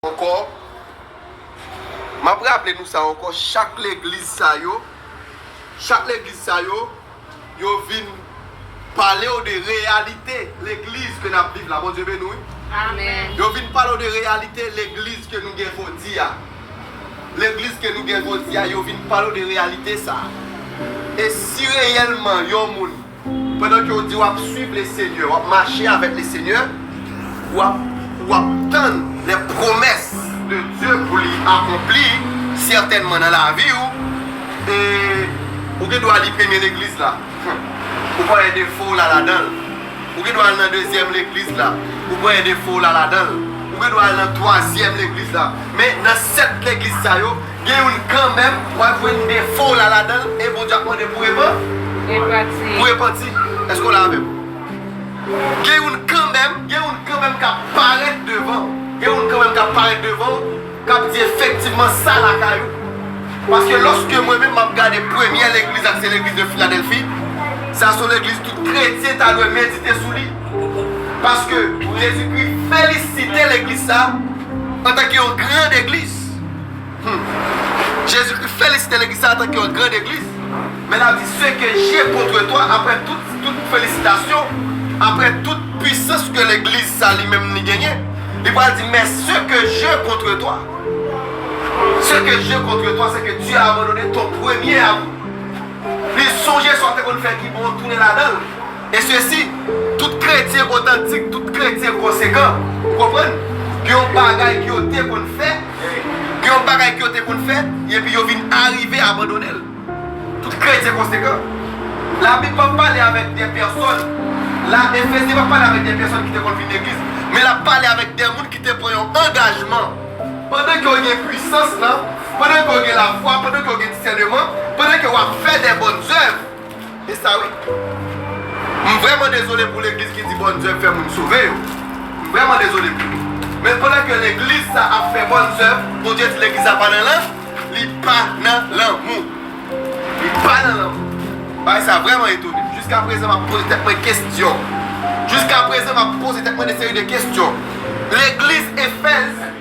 Ankò, m ap raple nou sa ankò, chak legliz sa yo, chak legliz sa yo, yo vin pale w de reyalite legliz ke n ap viv la. Bondye beni w wi. Amen. Yo vin pale w de reyalite legliz ke nou gen jodi a. Legliz ke nou gen jodi a, yo vin pale w de reyalite sa a. E si reyèlman yon moun Pandan ke w di wap swiv le Senyè, wap mache avèk le Senyè, wap wap tann lè pwomès de Dye pou li akonpli sètènman nan lavi w, e ou gen dwa li premye legliz la, ou pran 1 defo w la ladan l, ou gen dwa al nan dezyèm legliz la, ou pran 1 defo w la ladan l, ou gen dwa al nan twazyèm legliz la, men nan 7 legliz sa yo, Gen youn kanmenm, wap jwenn defo w la ladan l e Bondye ap mande pou repan, pou repanti. Èske w la avè m? Gen youn kanmenm, gen youn kanmenm kap parèt devan w, gen youn kanmenm kap parèt devan w, kap di efektivman sa lakay ou. Paske lòske mwen menm map gade premyè legliz la ki se legliz de Filadèlfi, sa son legliz tout kretyen ta dwe medite sou li. Paske Jezikri felisite legliz sa antanke yon gran egliz. Humm Jezikri felisite legliz sa antanke yon grand egliz men lap di se ke je kontre twa aprè tout tout felisitasyon aprè tout pwisans ke legliz sa li menm li genyen li pral di men se ke je kontre twa se ke je kontre twa se ke Dye a abandone ton premye amou li sonje sa w te konn fè ki bon tounen ladanl E sesi, tout kretyen otantik, tout kretyen konsekan, ou konprann, gen yon bagay ke yo te konn fè, gen yon bagay ke yo te konn fè, epi yo vin arive abandone l. Tout kretyen konsekan. Labib pa pale avèk de pèsòn la, Efesyen pa pale avèk de pèsòn ki te konn vin legliz, men l ap pale avèk de moun ki te pran yon angajman, pandan ke yo gen pwisans lan, pandan ke yo gen lafwa, pandan ke yo gen disèneman, pandan ke yo ap fè de bòn zèv. Se sa wi. M vrèman dezole pou legliz ki di bòn zèv fè moun sove yo. M vrèman dezole pou yo. Men pandan ke legliz sa ap fè bòn zèv, Bondye di legliz la pa nan lan, li pa nan lanmou. Li pa nan lanmou. Bagay sa vrèman etone m. Jiska prezan m ap poze tèt mwen kestyon. Jiska prezan m ap poze tèt mwen de seri de kestyon. Legliz Efèz.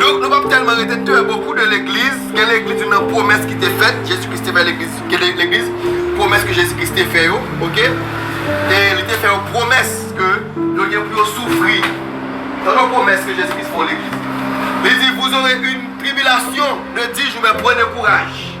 Donk nou pap tèlman rete tè bokou de legliz, gen legliz yo nan pwomès ki te fèt, Jezi Kris te fè legliz, gen legliz pwomès ke Jezi Kris te fè yo, ok, e li te fè yo pwomès ke yo gen pou yo soufri, tande yon pwomès ke Jezi Kris fè yon legliz, li di, vous aurez une tribulation de dix jours men prenez courage.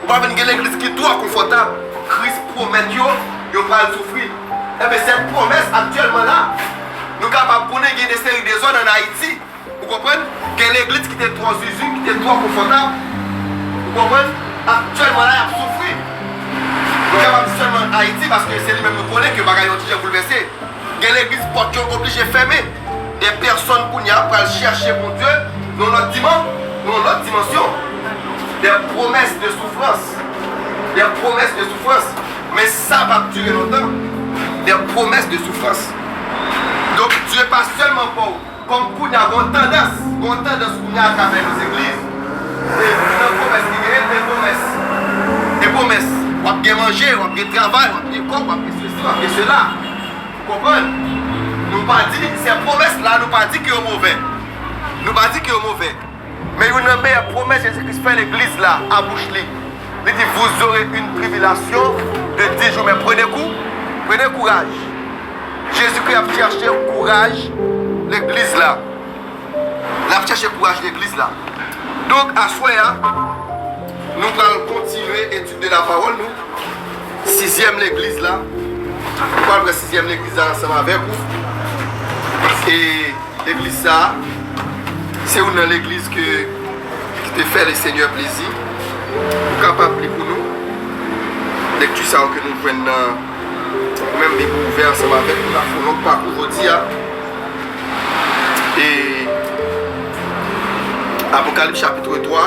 Ou pa vin gen legliz ki twò konfòtab. Kris pwomèt yo, yo pral soufri. Enben, sèt pwomès aktyèlman la. Nou kapab konnen gen de seri dezòd an Ayiti. Ou konprann? Gen legliz ki te twò zuzu, ki te twò konfòtab. Ou konprann? Aktyèlman la, y ap soufri. Nou kapab di sèlman Ayiti, paske se li menm nou konnen ke bagay yo ti jan boulvèse. Gen legliz pòt yo oblije fèmen. Dè pèsòn kounya pral chèche Bondye nan lòt diman, nan yon lòt dimansyon. Dè pwomès de soufrans, dè pwomès de soufrans. Men sa pap dire lontan. Dè pwomès de soufrans. Donk Dye pa sèlman baw. Kòm kounya gon tandans, gon tandans kounya atravè yo zegliz e nan pwomès ki genyen e pwomès, e pwomès wap gen manje, wap gen travay, wap gen kòb, wap gen sesi, wap gen sela. Ou konprann? Nou pa di sè pwomès la nou pa di ke yo movè. Nou pa di ke yo movè. Men youn nan meyè pwomès Jezi Kris fè Legliz la a bouch li. Li di, Vous aurez une tribulation de dix jours, men prenez kou, prenez courage. Jezi Kris ap chèche kouraj Legliz la. L ap chèche kouraj Legliz la. Donk, aswè a, nou pral kontinye etid de lapawòl nou, Sizyèm Legliz la. Nou pral pran Sizyèm Legliz la ansanm avèk ou. E. Legliz sa a, se youn nan legliz ke, ki te fè le Senyè plezi. Ou kapab li pou nou, lekti sa yo ke nou jwenn nan, ou menm bib ou ouvè ansanm avèk nou, n ap fè youn lòt pakou jodi a. E, Apokalip chapitre 3.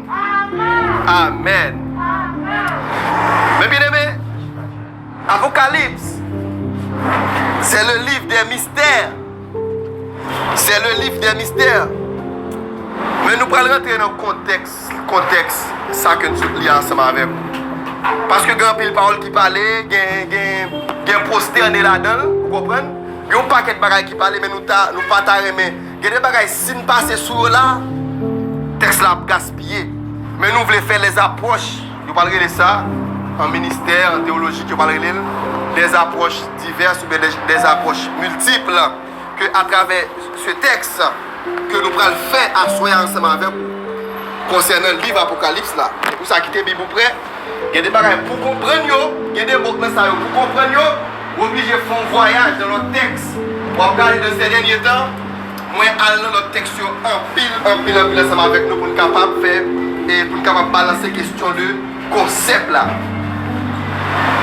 Amen. Mes bien-aimés, Apocalypse, c'est le livre des mystères. C'est le livre des mystères. Men nou pral rentre nan kontèks, kontèks sa ke nou sot li ansanm avèk ou. Paske gen anpil pawòl ki pale, gen, gen, gen prostène ladan l, ou konprann? Gen yon pakèt bagay ki pale men nou ta, nou pa ta renmen. Gen de bagay si n pase sou yo la, tèks la ap gaspiye. Men nou vle fè lèzapwòch, yo pral rele sa, an ministè, an tewolojik, yo pral rele l lèzapwòch divès oubyen lèzapwòch miltipl, ke atravè se tèks ke nou pral fè aswè a ansanm avèk ou konsènan liv Apokalips la. Se pou sa kite Bib ou prè. Gen de bagay pouw konprann yo, gen de mo nan sa yo pouw konprann yo, ou oblije fè yon vwayaj nan lòt tèks. Wap gade nan sè dènye tan, mwen al nan lòt tèks yo anpil, anpil, anpil ansanm avèk nou poun kapab fè, poun kapab balanse kestyon de konsèp la.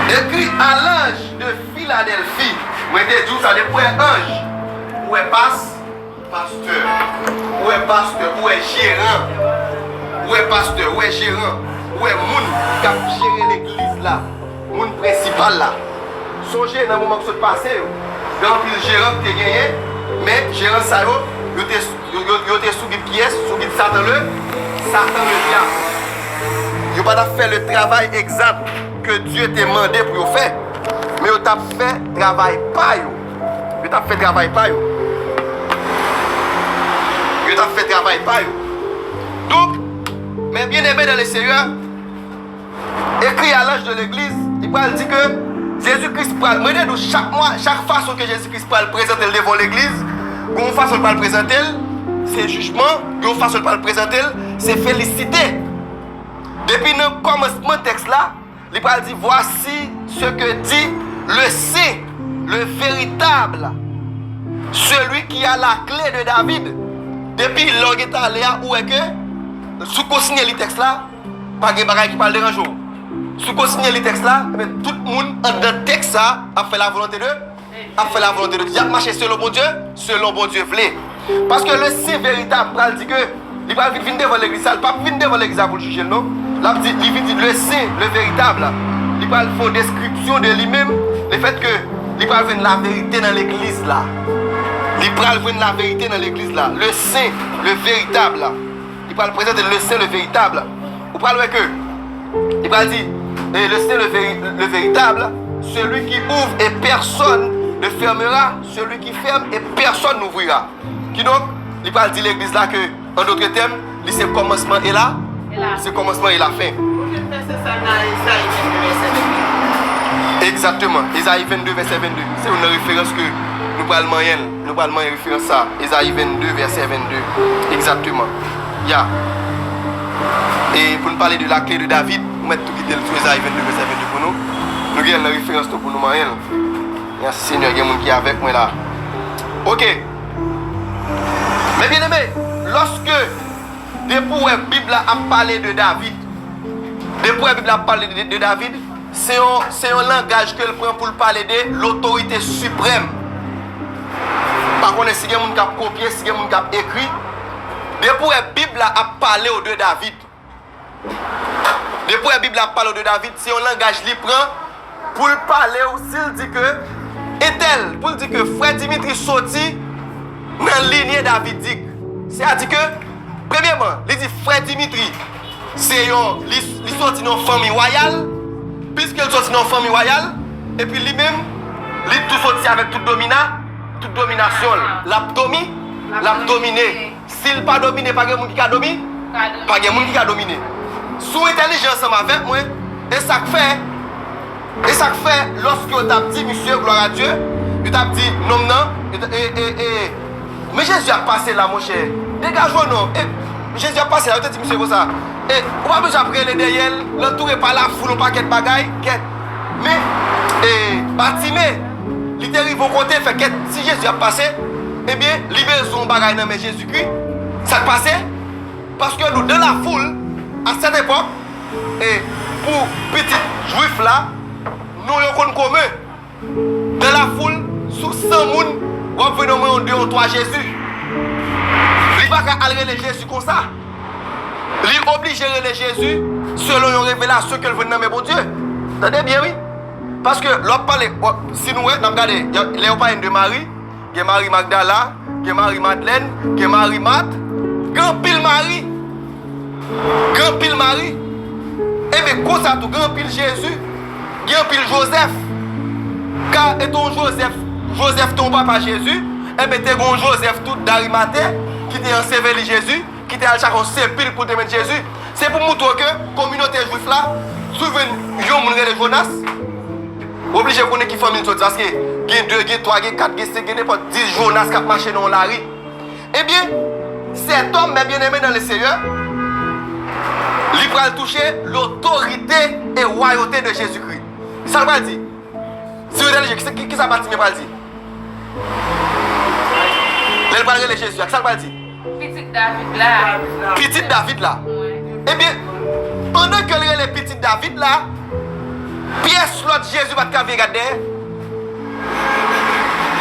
Ekri a lanj de Filadèlfi. Mwen te diw sa depi ou wè anj, ou wè pas. Pastè Ou wè pastè Ou wè jeran Ou wè pastè Ou wè jeran Ou wè moun k ap jere legliz la Moun prensipal la Sonje nan moman k sot pase yo Gen anpil jeran k te genyen Men jeran sa yo Yo te Yo te sou bib kiyès Sou bib satan le Satan le dyab Yo pa t ap fè le travay egzat Ke Dye te mande pou yo fè Men yo t ap fè travay pa yo. Yo tap fè travay pa yo. Yo tap fè travay pa yo. Donk, mè byeneme dan le Seyè, ekri a lanj de legliz, li pral di ke Jezi Kris pral, mwen de nou chak mwa, chak fason ke Jezi Kris pral prezante l devan yon legliz, gen yon fason l pral prezante l, se jijman, gen yon fason l pral prezante l, se felisite. Depi nan kòmansman tèks la. Li pral di, Vwasi se ke di le sen, le veritab, seli ki a la kle de David. Depi lè w gen tale a, ou wè ke si w kontinye li tèks la, pa gen bagay ki pral deranje w. Si w kontinye li tèks la, tout moun anndan tèks sa ap fè lavolonte de. ap fè la volonte de Dye, y'ap mache selon Bondye, selon Bondye vle. Paske le sen veritab pral di ke li pral vin vin devan legliz sa, li p'ap vin devan legliz la pou l jije'l non. L'ap di, li vin di le sen, le veritab la, li pral fè yon deskripsyon de li menm, le fèt ke li pral jwenn la verite nan legliz la. Li pral jwenn la verite nan legliz la, le sen, le veritab la. Li pral prezante le Sen le veritab. Ou pral wè ke li pral di e le Sen le veritab, seli ki ouvre e pèsòn ne fèmera, seli ki fèm e pèsòn n'ouvrira. Kidonk, li pral di legliz la ke an dotre tèm, li se kòmansman e la, li se kòmansman e la fen. Ou jwenn vèsè sa nan Ezayi 22 vèsè 22. Egzateman. Ezayi 22 vèsè 22. Se youn nan referans ke nou pral manyen. Nou pral manyen referans sa a, Ezayi 22, vèsè 22, egzakteman. Ya. E pou n pale de la kle de David, ou mèt tou kite l sou Ezayi 22, vèsè 22 pou nou. Nou gen l nan referans tou pou nou manyen l. Mèsi Senyè, gen moun ki avèk mwen la. Oke. Men byeneme, lòske, depi ou wè Bib la ap pale de David, depi ou wè Bib la ap pale de David, Se yon langaj ke l pran pou l pale de lotorite siprèm. M pa konnen si gen moun k ap kopye, si gen moun k ap ekri. Depi ou wè Bib la ap pale w de David, depi ou wè Bib la ap pale w de David, se yon langaj li pran pou l pale w, si l di ke entèl, pou l di ke frè Dimitri soti nan linye davidik. Se a di ke, premyeman, li di frè Dimitri. se yon li soti nan yon fanmi wayal, piske li soti nan yon fanmi wayal, epi li menm, li tou soti avèk tout domina, tout dominasyon l. L ap domi, l ap domine. Si l pa domine, pa gen moun ki ka domi? Pa gen moun ki ka domine. Si w entèlijan ansanm avèk mwen, e sa k fè. E sak fè loske yo tap di misye gloire a Dieu yo tap di nonm nan ee men Jezi ap pase la monchè degaj ou non e Jezi ap pase la yo te di misye konsa e ou pa bezwen ap rele dèyèl nan toure pa la foul yon pakèt bagay kèt men e batime li te rive yon kote fè kèt si Jezi ap pase ebyen li bezwen yon bagay nan men Jezikri sak pase paske nou de la foul a sèt epòk E pou pitit Jwif la, non yo konn komen. Nan lafoul, sou san moun, w ap jwenn omwen yon de yon twa Jezi. Li pa ka al rele Jezi konsa. Li oblije rele Jezi selon yon revelasyon ke l jwenn nan men Bondye. Tande byen wi. Paske lè w ap pale, si nou wè, n ap gade lè yo pale n de Mari, Gen Mari Magdala, gen Mari Madlèn, gen Mari Mat, gen anpil Mari. Gen anpil Mari. Enben, konsa tou, gen anpil Jezi, gen anpil Jozèf. Ka, e te yon Jozèf, Jozèf te yon papa Jezi, enben te gen yon Jozèf tou Darimate ki te anseveli Jezi. ki te al chache yon sepilk pou l te met Jezi, se pou montre w ke kominote jwif la, si w jwenn yon moun rele Jonas, w oblije konnen ki fanmi l soti. Paske gen de, gen twa, gen kat, gen senk, gen nenpòt dis Jonas k ap mache nan yon lari. Ebyen, sètòm, mè byeneme nan Leseyè, li pral touche lotorite e wayote de Jezikri. Sa l pral di? Si yo entèlijan, kisa Batimye pral di? Lè l pral rele Jezi a, kisa l pral di? Pitit David la. Pitit David la. Ebyen, pandan ke l rele Pitit David la, pyès lòt Jezi pa t ka vin gad dèyè.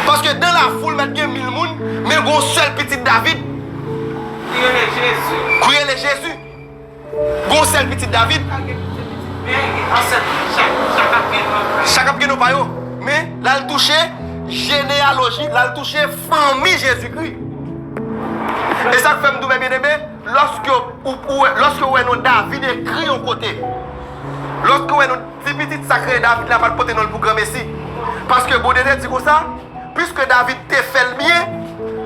Paske dan lafoul mèt gen mil moun, men gen yon sèl Pitit David. Ki rele Jezi. Ki rele Jezi. Gon sèl pitit David. Chak gen pitit men gen ansèt yo. Chak ap gen non pa yo. Chak ap gen non pa yo. Men, l al touche jeneyaloji, l al touche fanmi Jezikri. E sa k fè m di w, mè byeneme, lòske ou wè, lòske ou wè non David ekri yon kote, lòske ou wè non, ti pitit sa k rele David la pa t pote non l pou granmesi. Paske Bondye te di konsa, Piske David te fè l byen,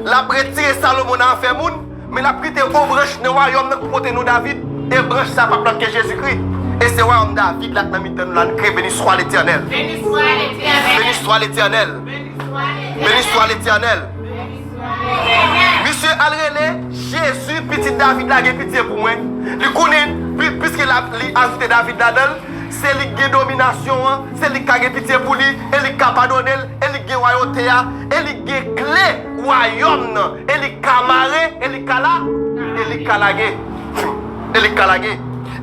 l ap retire Salomon nan afè moun. Men l ap kite on branch nan wayòm nan pou pote non David, e branch sa a p ap lòt ke Jezikri. E se wayòm David la k nan mitan nou la n kreye. Beniswa Letènèl! Beniswa Letènèl! Beniswa Letènèl! Beniswa Letènèl! Misye al rele Jezi, Pitit David la, gen pitye pou mwen. Li konnen, piske li ajoute David ladan l, se li k gen dominasyon an, se li k ka gen pitye pou li, e li k ka padone l, e li k gen wayote a, e li k gen kle. Wayòm nan e li ka mare e li ka la e li ka lage e li ka lage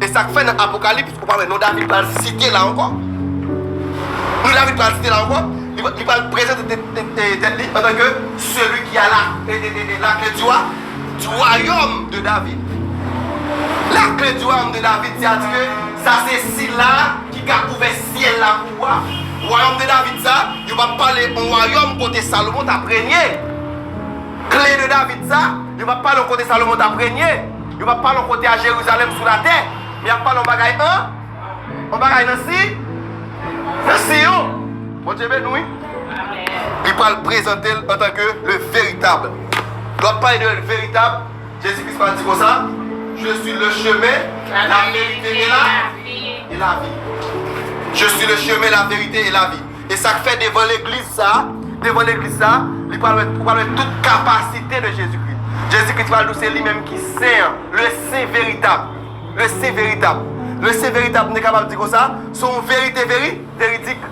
e sa k fè nan apokalips ou pa wè non David pral site la ankò non David pral site la ankò li pral prezante tèt li antan ke seli ki a la lakle di wa di wayòm de David lakle di wayòm de David se a di ke sa se sila Ki ka ouvè syèl la pou ou a. Wayòm de David sa a, yo pa pale yon wayòm kote Salomon t ap renye. Kle de David sa a, yo pa pale yon kote Salomon t ap renye. Yo pa pale yon kote a Jerizalèm sou latè. Men y ap pale yon bagay an, yon bagay nan si, nan Siyon. Bondye beni w wi. Li pral prezante l antanke le veritab. Lè w ap pale de veritab, Jezi Kris pa di konsa, Je suis le chemin, la verite et la et la vie. Je suis le chemin, la verite et la vie. E sak fè devan legliz sa, devan legliz sa, li pral wè, ou pral wè tout kapasite de Jezi Kris. Jezi Kris pral di w se li menm ki sen an, le sen veritab, le sen veritab. Le sen veritab, m te kapab di konsa, se yon verite veri, veridik.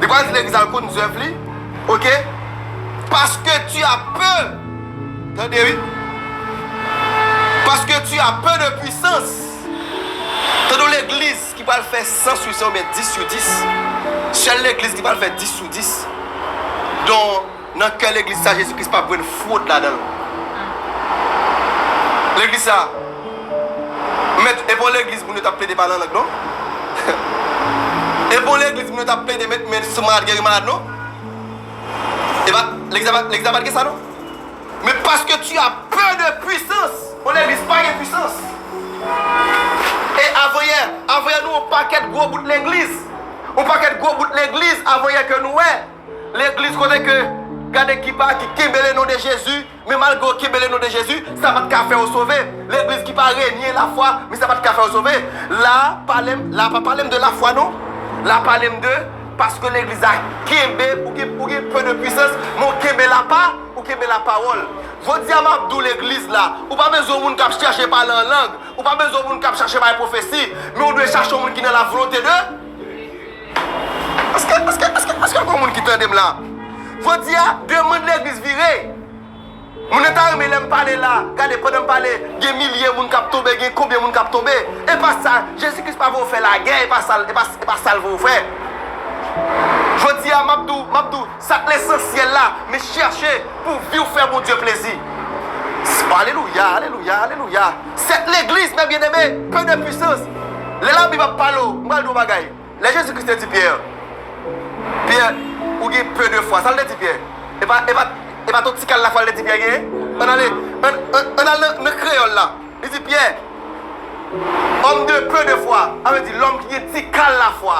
Li pral di legliz al konn zèv li ok paske tu as peur tande wi paske tu as peur de puissance tande yon legliz ki pral fè 100 sou 100 oubyen 10 sou 10 sèl legliz ki pral fè 10 sou 10 don Nan kè legliz sa Jezi Kris pap jwenn fwod ladanl. Legliz sa Mèt epa yon legliz moun yo tap plede pale an lang non. Epa yon legliz moun yo tap plede met men sou malad geri malad non. Epa legliz la legliz la pat gen sa non. Men paske tu as pè de pwisans. Yon legliz pa gen pwisans. E avanyè avanyè nou yon pakèt gwo bout legliz. Yon pakèt gwo bout legliz avanyè ke nou wè. Legliz kote ke gad ekip a ki kenbe le non de Jezi, men malgre w kenbe le non de Jezi, sa pa t ka fè w sove. Legliz ki pa renye lafwa, men sa pa t ka fè w sove. La a pale m, la a pa pale m de lafwa non. La a pale m de, paske legliz la kenbe, ou gen, ou gen peu de puissance, men w kenbe lapa, ou kenbe lapawòl. Jodi a m ap di w legliz la, ou pa bezwen yon moun k ap chèche pale an lang, ou pa bezwen yon moun k ap chache bay pwofesi, men ou dwe chache yon moun ki nan la volonte de. Eske gon moun ki tandem la. Jodia demand legliz vire. Moun yo ta renmen lèm pale la. Gade pandanm pale gen milye moun kap tonbe gen konbyen moun kap tonbe. Epa sa Jezi Kris pa voye w fè lagè epa sal epa sal voye w fè. Jodia map di w map di w sak lesansyèl la men chèche pou viw fè Bondye plezi. Alelouya alelouya alelouya. Cette legliz mes bien aime peu de puissance lè la bib ap pale w m pral di w yon bagay lè jezi kris te di pyè pyè ou gen peu de fwa sa l te di pyè e pa e pa e pa t yon ti kal lafwa l te di pyè gen ann ale ann al nan nan kreyòl la li di pyè homme de peu de fwa sa vle di lòm ki gen ti kal lafwa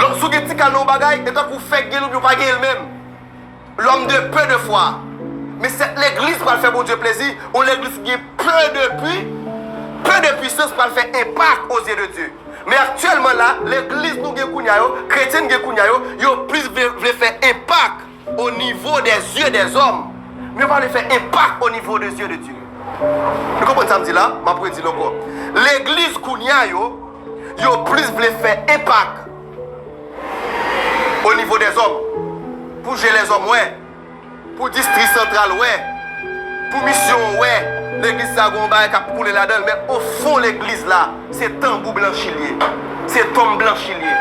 lòm si w gen ti kal nan yon bagay e tankou fè k gen l oubyen w pa gen l menm. L'homme de peu de foi Men sèt legliz pral fè Bondye plezi, yon legliz ki gen peu de pu, peu de puissance pral fè enpak o zye de Dye. Men aktyèlman la, legliz nou gen kounya yo, kretyen n gen kounya yo, yo plis vle vle fè enpak o nivo dè zye dè zòm, men yo pa vle fè enpak o nivo de zye de Dye. Nou konprann sa m di la? M ap redi l ankò. Legliz kounya yo, yo plis vle fè enpak O nivo dè zòm, pou je lèzòm wè, pou distri santral wè, pou misyon an wè, legliz sa gen yon bagay k ap koule ladan l, men ofon legliz la, se tanbou blanchi l ye, se tonm blanchi l ye.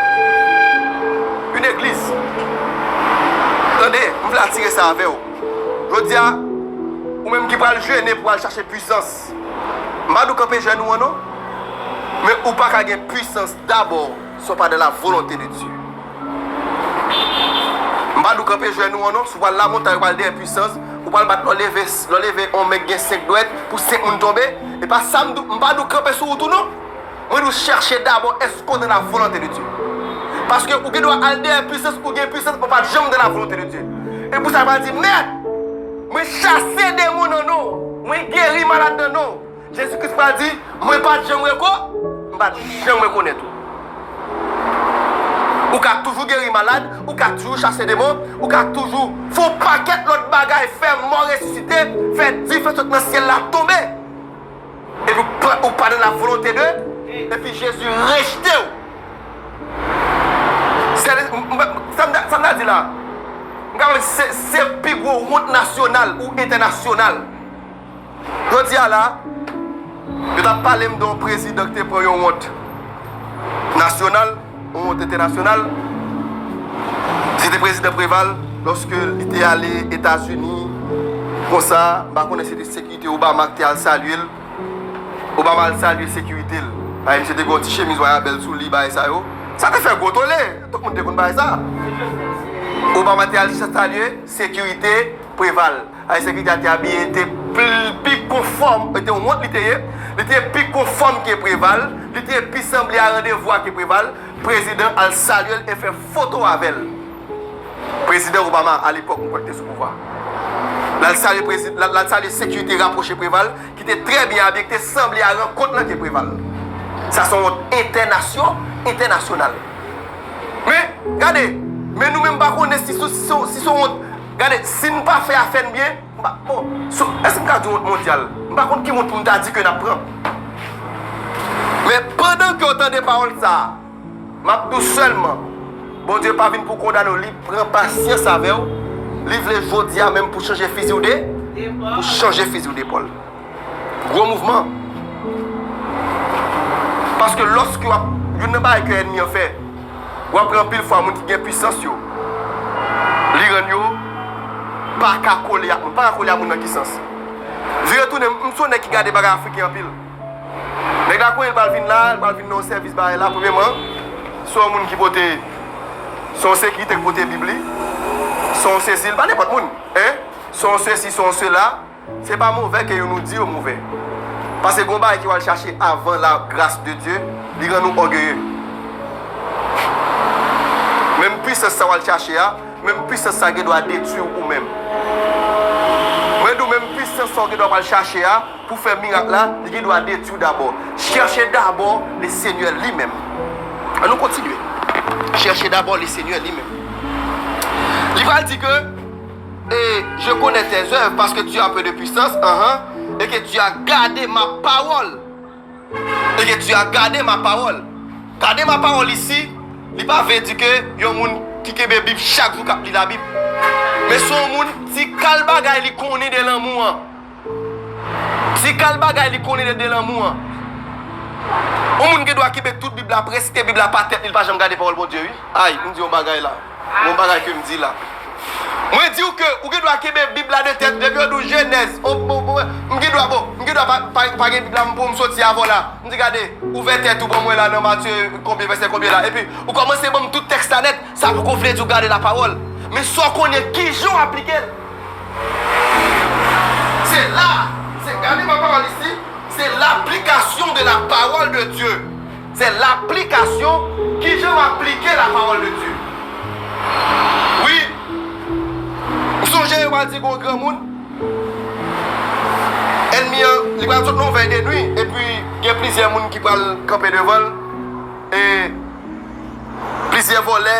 Yon egliz. Tande, m vle atire sa avè w. Jodi a, ou menm ki pral jene pou al chache puisans, m pa di w kanpe jèn ou an non, men ou pa ka gen puisans dabò Si w pa dans la volonté de Dieu. M pa di w kanpe jenou an non. Si w pral lamontay, ou pral dèyè pwisans, ou pral bat lè w leve, lè w leve on nèg gen 5 dwèt pou 5 moun tonbe, e pa sa m di w. M pa di w kanpe sou wout ou non. Mwen di w chèche dabò èske w dans la volonté de Dieu. Paske ou gen dwa al dèyè pwisans, ou gen pwisans men w pa janm dans la volonté de Dieu. E pou sa pa di, Mèt, mwen chase demon nan non w, mwen geri malad nan non w. Jezi Kris pral di, Mwen pa t janm reko, m pa t janm rekonèt ou. Ou ka toujou geri malad, ou ka toujou chase demon, ou ka toujou fè yon pakèt lòt bagay, fè mò resisite, fè dife sot nan syèl la tonbe, epi ou pa nan lavolonte de, epi Jezi rejte ou. Sa m ta di la, m kapab di se pi gwo wont nasyonal ou entènasyonal. Jodi a la, yo t ap pale m de yon prezidan ki te pran yon wont nasyonal, yon wont entènasyonal. Se te prezidan Preval lòske li te ale Etazini konsa. M pa konnen si se te sekirite Obama ki te al salye l. Obama al salye sekirite l. Paske misye te gen yon ti chemiz wayabèl sou li, bagay sa yo. Sa te fè gwo tole. Tout moun te konn bagay sa. Obama te al salye sekirite Preval. Ayisyen ki gad te abiye te pi konfòm, e te yon wont li te ye, li te pi konfòm ke Preval, li te pi sanble a randevou a ke Preval, prezidan al salye l e fè foto avè l. Prezidan Obama a lepòk m kwè ki te sou pouvwa. L al salye prezi, l al salye sekirite rapwoche Preval ki te trè byen abiye, ki te sanble a rankont lan ke Preval. Sa se yon wont entènasyo, entènasyonal. Men, gade, men nou menm m pa konnen si se yon wont. Gade, si n pa fè afè n byen, m pa bon, sou, èske m ka di wont mondyal? M pa konn ki wont pou m ta di ke n ap pran. Men, pandan ke w tande pawòl sa a, m ap di w sèlman, Bondye pa vin pou kondane w, li pran pasyans avè w, li vle jodi a menm pou chanje fizi w de, pou chanje fizi w depòl. Gwo mouvman. Paske lòske wap, youn nan bagay ke ènmi an fè, wap wè anpil fwa moun ki gen pwisans yo, li rann yo pa ka kole ak moun. Pa ka kole ak moun nan ki sans? Vire tounen, m son nèg ki gade bagay afriken anpil. Nèg la konnen li pral vin la, li pral vin nan yon sèvis bagay la, premyeman, se yon moun ki pote, se yon sekirite ki pote bib li, se yon sesi, li pa nenpòt moun. Se yon sesi, se yon sela. Se pa move ke yo nou di yo move. Pase gon bagay ke wal chache avan la gras de Dye, li rann ou ògeye. Menm pwisans sa wal chache a, menm pwisans sa gen dwa detwi w ou menm. Mwen di w menm pwisans sa w gen dwa pwal chache a pou fè mirak la, li gen dwa detwi w dabò. Chèche dabò le Senyè li menm. An nou kontinye. Chèche dabò le Senyè li menm. Li pral di ke. Et je connais tes œuvres, parce que tu as peu de puissance, uh-huh, et que tu as gardé ma parole. Et que tu as gardé ma parole. Gade ma pawòl isi, li pa vle di ke yon moun ki kenbe Bib chak jou k ap li Labib. Men se yon moun ti kal bagay li konnen de lanmou an. Ti kal bagay li konnen de delanmou an. Yon moun gen dwa kenbe tout bib la preske bib la pa tèt li li pa janm gade pawòl Bondye wi. Ayy m di yon bagay la. Yon bagay ke m di la. Mwen diw ke ou gen dwa kenbe bib la de tèt depi yo di w jenèz m gen dwa bon m gen dwa pa gen bib la m poum soti avèw la m di gade ouvè tèt ou banmwen la nan matye konbyen vèsè konbyen la epi ou kòmanse banm tout tèks la nèt sa poko vle di ou gade la pawòl men sa w konnen kijan w aplikel. Se la, se gade ma pawòl isi, se laplikasyon de la pawòl de Dye. Se laplikasyon, ki jan m aplike la pawòl de Dye. Wi, ou sonje yo pa di gon granmoun, ènmi an, li pral sot nan vèy de nwi, epi gen plizyè moun ki pral kanpe devan l, e plizyè vòlè.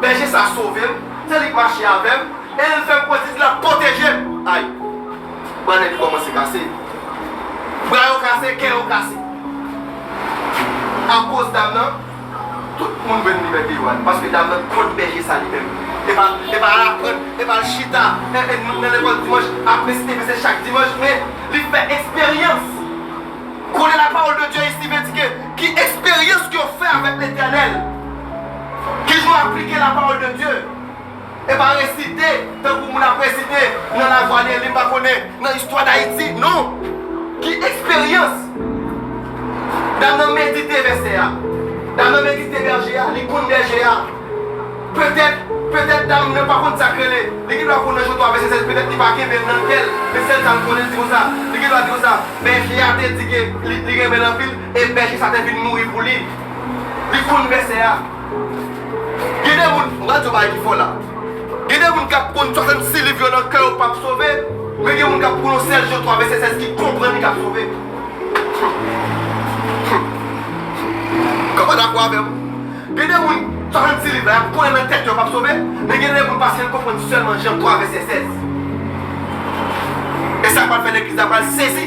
Bèje sa sove m, se li k mache avè m, e l fè m pran titl ap pwoteje m. Ay! Bannèt li kòmanse kase. Bra yo kase, kè yo kase. Akoz dam nan, tout moun jwenn libète yo al. Paske dam nan kont bèje sa li menm. E pa e pa al aprann, e pa al chita nan lekòl dimanch ap resite vèsè chak dimanch, men li fè eksperyans. Konnen la parole de Dieu ici veut dire ke ki eksperyans ke w fè avèk Letènèl. Ki jan w aplike lapawòl de Dye? E pa resite tankou moun ap resite nan lavwa deli m pa konnen nan istwa dayiti non ki eksperyans dam nan medite vèsè a dam nan medite bèje a li konn bèje a petèt petèt dam nan pa konn sak rele li gen dwa konn nan jan 3 vèsè se petèt li pa kenbe l nan kè l men sèl sa m konnen l di konsa li gen dwa di konsa bèje a te di ke li renmen l anpil e bèje sa te vin mouri pou li. Li konn vèsè a. Gen de moun, m pa di yo bagay ki fo la. Gen de moun k ap konn 66 liv yo nan kè yo k pap sove, men gen moun k ap konn yon sèl Jan 3 vèsè 16 ki konprann li k ap sove. Humm. Kòman w dakò avè m? Gen de moun 66 liv la y ap konnen nan tèt yo yo pap sove, men gen de moun paske l konprann sèlman Jan 3 vèsè 16. E sa pral fè legliz la pral sezi.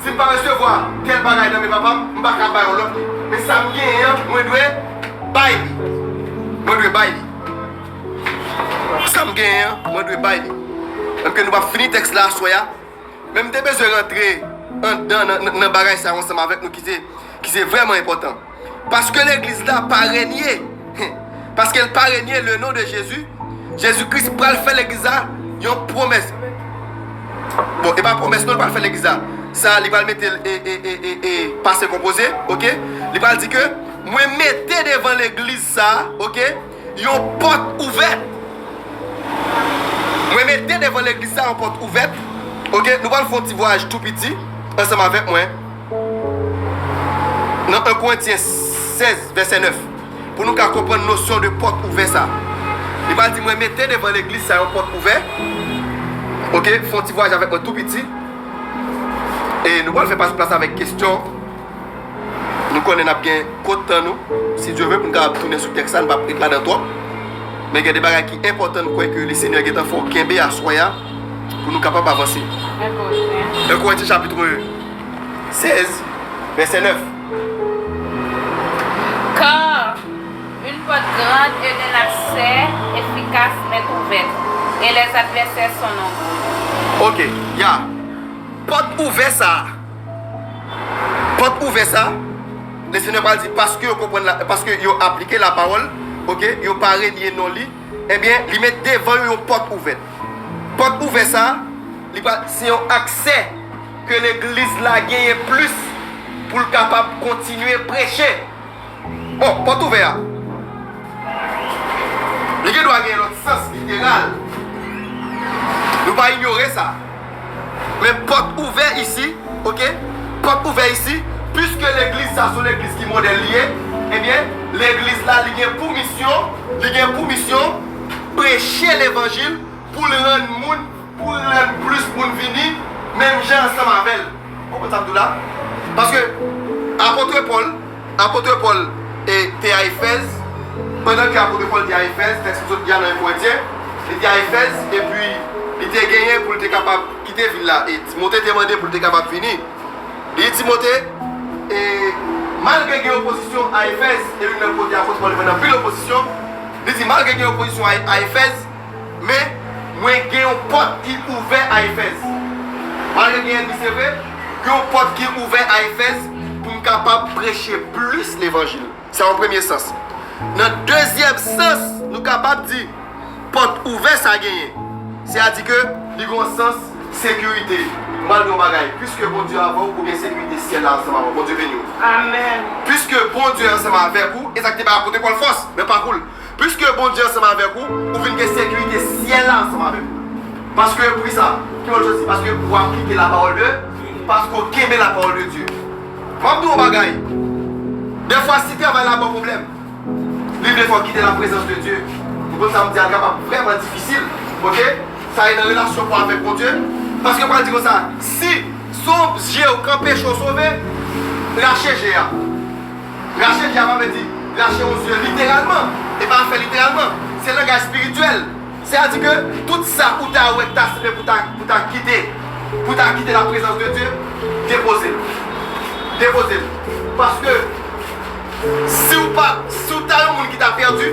Si m pa resevwa tèl bagay nan men papa m, m pa ka bay yon lòt li. Men sa m genyen an, mwen dwe bay li. Mwen dwe bay li. Sa m genyen an, mwen dwe bay li. Menm ke nou p ap fini tèks la aswè a, men m te bezwen rantre anndan nan bagay sa yo ansanm avèk nou ki se vrèman enpòtan. Paske legliz la pa renye Paske l pa renye le non de Jezi Jezi Kris pral fè legliz la yon pwomès Bon e pa pwomès non li pral fè legliz la sa li pral mete l e pase konpoze ok li pral di ke mwen mete devan legliz sa ok. Yon pòt ouvèt. Mwen mete devan legliz sa yon pòt ouvèt. Ok, nou pral fè yon ti vwayaj tou piti ansanm avèk mwen nan 1 Korentyen 16 vèsè 9 pou nou ka konprann nosyon de pòt ouvè sa. Li pral di, Mwen mete devan legliz sa yon pòt ouvè. Ok, fè yon ti vwayaj avèk mwen tou piti. E nou pral fè pase plas avèk kesyon. Nou konnen n ap gen kont tan nou, si Dye vle, pou n kapab tounen sou tèks la. N p ap ret ladan twòp. Men gen de bagay ki enpòtan n kwè ke Lesenyè gen tan fè w kenbe aswè a pou nou kapab avanse. 1 Korentyen chapitre 16 vèsè 9. Car une porte grande et un accès efficace m'est ouverte, et les adversaires sont nombreux. Ok, ya. Pòt ouvè sa a. Pòt ouvè sa, Lesenyè pral di, paske yo konprann la, paske yo aplike lapawòl, ok, yo pa renye non li, ebyen, li met devan yo yon pòt ouvè. Pòt ouvè sa, li pral, se yon aksè ke legliz la genyen plis pou l kapab kontinye preche. Oh, pòt ouvè a. Li gen dwa gen yon lòt sans literal. Nou pa inyore sa. Men pòt ouvè isi, ok, pòt ouvè isi, piske legliz sa son legliz ki modèl li ye, ebyen, legliz la li gen pou misyon, li gen pou misyon preche levanjil pou l rann moun Pou lè plis moun vini menm jan ansanm avè l. Konprann sa m di w la? Paske apôtre Paul, apôtre Paul te a Efèz, pandan ke apôtre Paul te a Efèz, tèks m sot di a nan 1 Korentyen, li te a Efèz, epi li te genyen pou l te kapab kite vil la, e Timothée te mande pou l te kapab vini. Li di Timothée, e, malgre gen opozisyon a Efèz, e youn nan kote apôtre Paul te fè anpil opozisyon, li di malgre gen opozisyon a Efèz, Men, mwen gen yon pòt ki ouvè a Efèz. Mari yo genyen di, Se vre, gen yon pòt ki ouvè a Efèz pou m kapab preche plis levanjil. Sa yon premye sans. Nan dezyèm sans, nou kapab di, pòt ouvè sa genyen, se a di ke li gen yon sans sekirite. M pral di w yon bagay, piske Bondye avè w, ou gen sekirite syèl la ansanm avè w. Bondye beni w. Amen. Piske Bondye ansanm avèk ou, e sa ki te bay apot Paul fòs nan pakou l, Piske Bondye ansanm avèk ou, ou vin gen sekirite syèl la ansanm avèk ou. Paske, poukisa? Ki wòl Jezi? Paske ou aplike lapawòl de, paske ou kenbe lapawòl de Dye. M'ap di w yon bagay, dèfwa si travay la ba w pwoblèm, li vle fè w kite laprezans de Dye. Ou konn sa m di a, li kapab vrèman difisil, ok? Sa ye nan relasyon pa w avèk Bondye. Paske pral di konsa, si sonb je w k anpeche w sove, rache je a. Rache dyab la vle di rache yon zye literalman, e pa fè literalman. Se langaj espirityèl. Se a di ke tout sa ou ta wè ki ta sanble pou ta, pou ta kite, pou ta kite la prezans de Dye, depoze l. Depoze l. Paske si ou pa, si ou ta yon moun ki ta pèdi,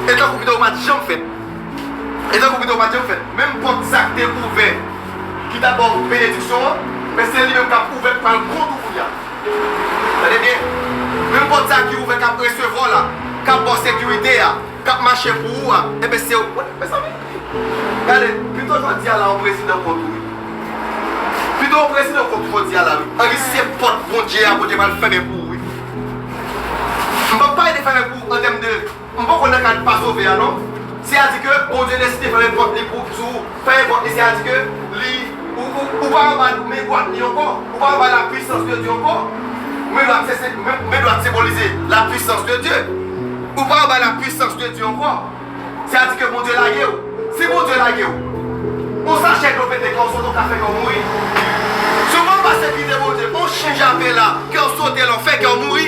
e tankou pito ou pa t janm fèt. E tankou pito ou pa t janm fèt. Menm pòt sa k te ouvè, ki ta ba w benediksyon an, men se li menm k ap ouvè, k pral kont ou kounye a. Tande byen, menm pòt sa ki ouvè k ap resevwa w la, k ap ba w sekirite a, k ap mache pou ou a, enben se ou. Mezanmi! Gade, pito jodi a la yon prezidan kont ou wi. Pito yon prezidan kont ou jodi a la wi. An di se pòt Bondye a Bondye pral fèmen pou ou wi. M p ap pale de fèmen pou ou an tèm de. M poko nan kad pa sove a non. Se a di ke Bondye deside fè yon pòt li pou sou ou, fè yon pòt li se a di ke li ou ou ou pa anba migwal li ankò, ou pa anba la pwisans de Dye ankò. Migwal se se men migwal senbolize la pwisans de Dye. Ou pa anba la pwisans de Dye ankò. Se a di ke Bondye lage ou. Si Bondye lage ou, on sachè dlo pete kè w sote ou ka fè kè w mouri. Si ou pa anba sekirite Bondye, on chen jape la kè w sote la ou fè kè w mouri.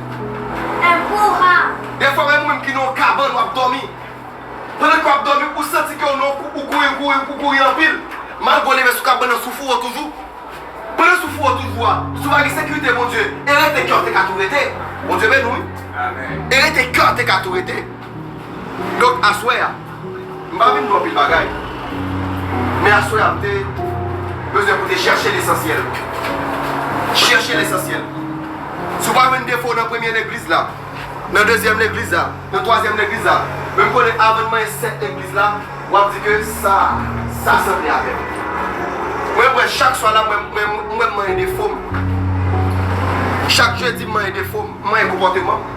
Dèfwa menm ou menm ki nan yon kabann wap dòmi. Pandan ke wap dòmi ou santi ke ou nan yon kou ou kouri ou kouri ou kouri anpil. Malgre ou leve sou kabann nan sou fou ou toujou. Pandan sou fou ou toujou a, si ou pa gen sekirite Bondye e rete kè ou te ka tou rete. Bondye beni w wi. E rete kè ou te ka tou rete. Donk aswè a, m pa vin di w anpil bagay, men aswè a m te bezwen pou w te chèche lesansyèl. Chèche lesansyèl. Si w pa jwenn defo nan premye legliz la, nan dezyèm legliz la, nan twazyèm legliz la, men m konnen avan n manyen sèt legliz la, w ap di ke sa a, sa sanble avè m. Mwen kwè chak swa la, mwen kwè m manyen defo m. Chak jedi m manyen defo m, m manyen konpòteman m.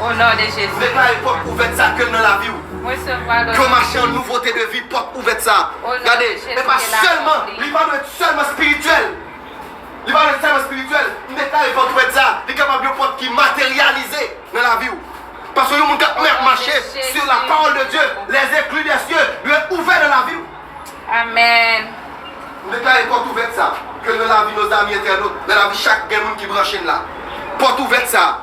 O non de Jezi. M deklare pòt ouvèt sa ke l nan laviw. M resevwa l o non de Jezi. Ke w mache an nouvote de vi pòt ouvèt sa. O non de Jezi ke l akonpli. Gade, e pa sèlman, li pa dwe t sèlman spirityèl. Li pa dwe t sèlman spirityèl. M deklare pòt ouvèt sa, li kapab yon pòt ki materyalize nan laviw. Paske yon moun kap mache sur la parole de Dieu, les ecluses des cieux dwe ouvè nan laviw. Amen. M deklare pòt ouvèt sa, ke l nan lavi nos amis internautes, nan lavi chak gen moun ki branche n la. Pòt ouvèt sa.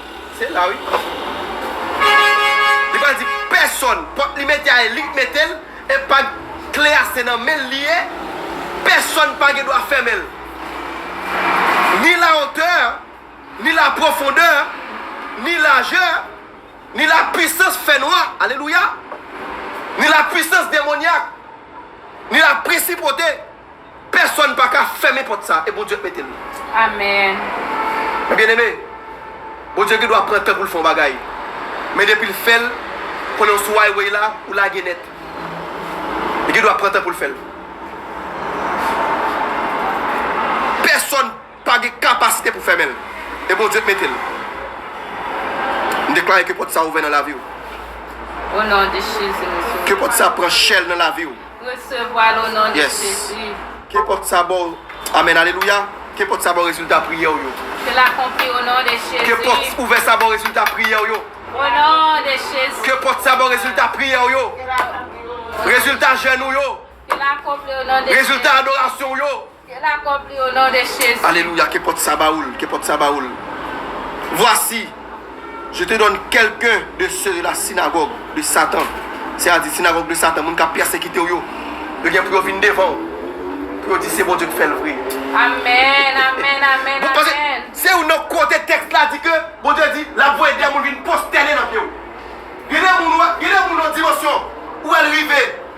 Se la wi. Li pa di pèsòn. Pòt li mete a e li k mete l. E pa kle a se nan men l li ye. Pèsòn pa gen dwa fèmen l. Ni la otè, ni la pwofondè, ni lajè, ni la pwisans fènwa, alelouya, ni la pwisans demonyak, ni la presipote. Pèsòn pa ka fèmen pòt sa a, e Bondye k mete l. Amen. Men byeneme, Bondye gen dwa pran tan pou l fè yon bagay, men depi l fè l, konnen w sou highway la, ou lage nèt. Li gen dwa pran tan pou l fè l. Pèsòn. pa gen kapasite pou fèmen l e Bondye k mete l. M deklare ke pòt sa ouvè nan lavi w. O non de Jezi m resevwa l. Ke pòt sa pran chèl nan lavi w. M resevwa l o non de Jezi. Yes. Ke pòt sa baw Amen alelouya. Ke pòt sa baw rezilta priyè w yo. Ke l akonpli o non de Jezi. Ke pòt ouvè sa baw rezilta priyè w yo. O non de Jezi. Ke pòt sa baw rezilta priyè w yo. Ke l akonpli o non de Jezi. Rezilta jèn ou yo. Ke l akonpli o non de Jezi. Rezilta adorasyon w yo. Ke la kob li o non de Jezi. Alelouya ke pòt sa ba oul ke pòt sa ba oul vwasi je te donn kelken de se de la sinagòg de satan se a di sinagòg de satan moun kap pèsekitew yo yo gen pou yo vin devanw pou yo di se Bondye ki fèl vre Amen amen amen amen. Se youn nan kote tèks la di ke Bondye di lap voye de moun vin postène nan pyew gen de moun gen de moun nan dimansyon ou wèl rive.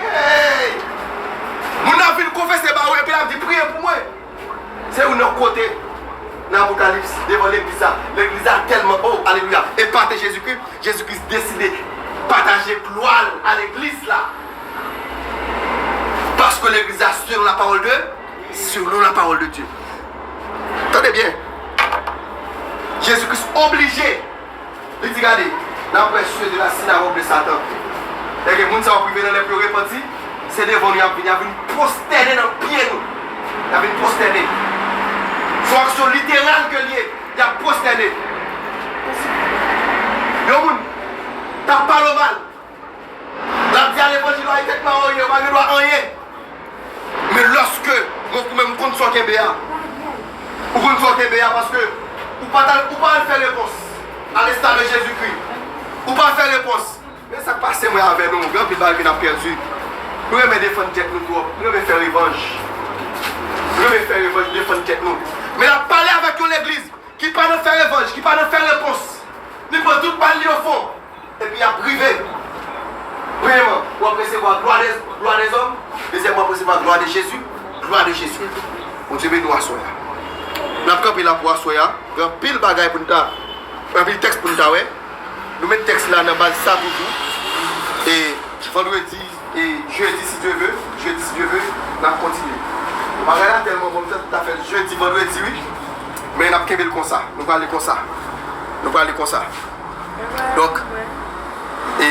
Hey! Moun nan vin konfese ba ou epi lap di priye pou mwen. Se youn nan kote nan Apokalips devan legliz la. Legliz la tèlman oh alelouya epate Jezikri, Jezikri deside pataje glwa l a legliz la. Paske legliz la selon la pawòl de selon la pawòl de Dye. Tande byen. Jezikris oblije Li di, Gade, n ap pran sye de lasinagòg de Satan. Lè gen moun sa yo prive nan lè pou yo repanti, se devan nou y ap vin, y ap vin pwostène nan pye nou. Y ap vin pwostène. S on aksyon literal ke l ye, y ap pwostène. Yon moun k ap pale w mal. Lap di a levanjil wa itek pa anyen ou pa gen dwa anyen men loske mwen koumen m konn sa w kenbe a ou konn sa w kenbe a paske ou pa tal ou pa al fè repons a lesta de jezi kri ou pa fè repons men sak pase mwen avè nou gen anpil bagay ke nap pèdi nou renmen defann tèt nou twòp nou renmen fè revanj nou renmen fè revanj defann tèt nou men lap pale avèk yon legliz ki pa nan fè revanj ki pa nan fè repons li pran tout bal li ofon. epi y ap prive Premyèman, w ap resevwa glwa dè glwa dèzòm Dezyèmman, w ap resevwa glwa de Jezi Glwa de Jezi Bondye beni w aswè a N ap kanpe la pou aswè a Gen anpil bagay pou n ta Gen anpil tèks pou n ta wè Nou met tèks la nan baz sa toujou E vandredi E jeudi si Dieu veut, jeudi si Dieu veut nap kontinye. Bagay la tèlman bon m fèt m ta fèl jeudi, vendredi wi. Men nap kenbel konsa, nou prale konsa. Nou prale konsa. Donk e.